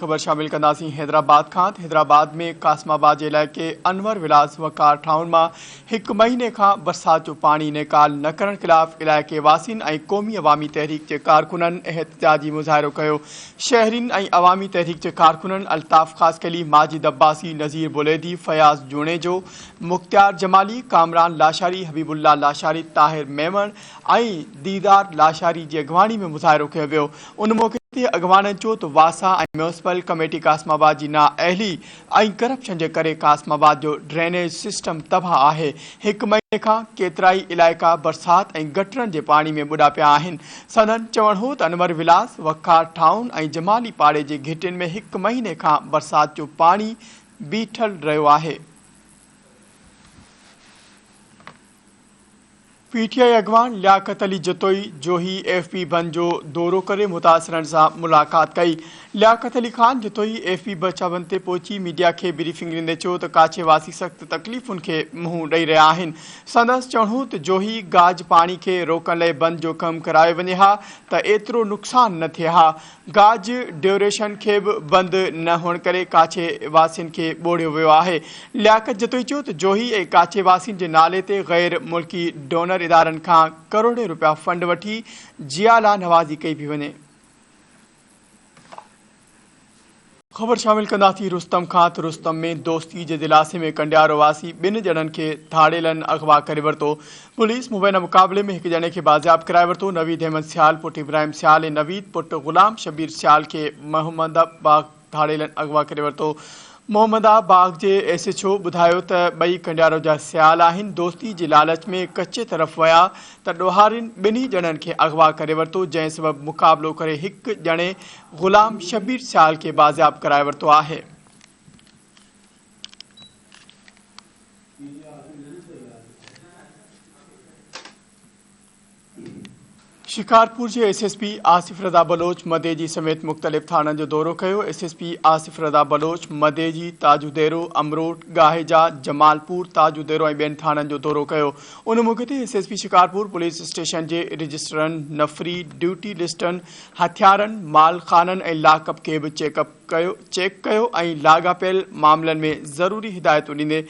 خبر شامل ڪنداسين حيدرآباد کان ته حيدرآباد ۾ قاسم آباد جي علائقي انور ولاس وقار ٺاهن مان هڪ مهيني کان برسات جو پاڻي نيڪال نه ڪرڻ خلاف علائقي واسين ۽ قومي عوامي تحريڪ جي ڪارڪنن احتجاجي مظاهرو ڪيو شهرين ۽ عوامي تحريڪ جي ڪارڪنن الطاف خاصخيلي ماجد عباسي نذير بوليدي فياض جوڻيجو مختيار جمالي ڪامران لاشاري حبيب الله لاشاري طاهر ميمڻ ۽ ديدار لاشاري جي اڳواڻي ۾ مظاهرو ڪيو ويو ان موقعي تي اڳواڻن چيو ته واسا ۽ ميونسپل ڪميٽي قاسم آباد جي نااهلي ۽ ڪرپشن جي ڪري قاسم آباد جو ڊرينيج سسٽم تباهه آهي هڪ مهيني کان ڪيترائي علائقا برسات ۽ گٽرن جي پاڻي ۾ ٻڏا پيا آهن سندن چوڻ هو ته انور ولاس وقار ٽائون ۽ جمالي پاڙي جي گهٽين ۾ هڪ مهيني کان برسات جو پاڻي بيٺل رهيو آهي پي ٽي آء اڳواڻ لياقت علي جتوئي جوهي ايف بي بند جو دورو ڪري متاثرن سان ملاقات ڪئي. لياقت علي خان جتوئي ايف بي بچا بند تي پهچي ميڊيا کي بريفنگ ڏيندي چيو ته ڪاڇي واسي سخت تڪليفن کي منهن ڏئي رهيا آهن. سندس چوڻ هو ته جوهي گاج پاڻي کي روڪڻ لئي بند جو ڪم ڪرايو وڃي ها ته ايترو نقصان نه ٿئي ها. گاج ڊيوريشن کي به بند نه هئڻ ڪري ڪاڇي واسين کي ٻوڙيو ويو آهي. لياقت جتوئي چيو ته جوهي ۽ ڪاڇي واسين جي نالي تي غير ملڪي ڊونر ادارن کان ڪروڙين روپيا فنڊ وٺي جيا لا نوازي ڪئي پئي وڃي. خبر شامل ڪنداسين رستم کان ته رستم ۾ دوستي جي دلاسي ۾ ڪنڊيارو واسي ٻن ڄڻن کي ڌاڙيلن اغوا ڪري ورتو، پوليس مبينا مقابلي ۾ هڪ ڄڻي کي بازياب ڪرائي ورتو، نويد احمد سيال پٽ ابراهيم سيال ۽ نويد پٽ غلام شبير سيال کي محمدا باغ ڌاڙيلن اغوا ڪري ورتو، محمدا باغ جي ايس ايڇ او ٻڌايو ته ٻئي ڪنڊيارو جا سيال آهن، دوستي جي لالچ ۾ ڪچي طرف ويا ته ڏوهارين ٻنهي ڄڻن کي اغوا ڪري ورتو، جنهن سبب مقابلو ڪري هڪ ڄڻي غلام شبير سيال کي بازياب ڪرائي ورتو آهي. شڪارپور جي S S P Asif Raza Baloch Madeji سميت مختلف ٿاڻن جو دورو ڪيو، S S P Asif Raza Baloch Madeji, Tajo ديرو، امروٽ، گاهيجا، جمال پور، تاجو ديرو ۽ ٻين ٿاڻن جو دورو ڪيو. ان موقعي تي S S P Shikarpur police station جي رجسٽرن، نفري، ڊيوٽي لسٽن، هٿيارن، مال خانن ۽ لاڪ اپ کي به چيڪ اپ ڪيو چيڪ ڪيو ۽ لاڳاپيل معاملن ۾ ضروري هدايتون ڏيندي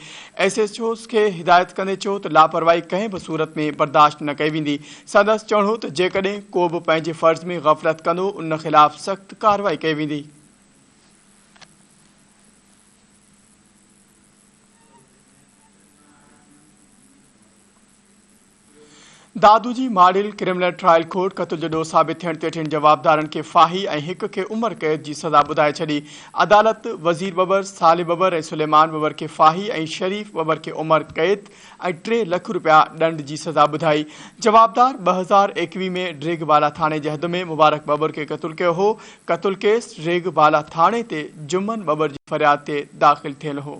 ايس ايچ اوز کي هدايت ڪندي چيو ته لاپرواهي ڪنهن به صورت ۾ برداشت نه ڪئي ويندي سندس چوڻ هو ته جيڪڏهن ڪو به پنهنجي فرض ۾ غفلت ڪندو ان خلاف سخت ڪارروائي ڪئي ويندي. دادو جي ماڊل ڪرمنل ٽرائل ڪورٽ قتل جو ڏوهه ثابت ٿيڻ تي ٽن جوابدارن کي ڦاهي ۽ هڪ کي عمر قيد جي سزا ٻڌائي ڇڏي. عدالت وزير ٻٻر، صالح ٻٻر ۽ سليمان ٻٻر کي ڦاهي ۽ شريف ٻٻر کي عمر قيد ۽ ٽي لک رپيا ڏنڊ جي سزا ٻڌائي. جوابدار ٻه هزار ايڪويهه ۾ ڊريگهه بالا ٿاڻي جي حد ۾ مبارڪ ٻٻر کي قتل ڪيو هو. قتل ڪيس ڊريگهه بالا ٿاڻي تي جمن ٻٻر جي فرياد تي داخل ٿيل هو.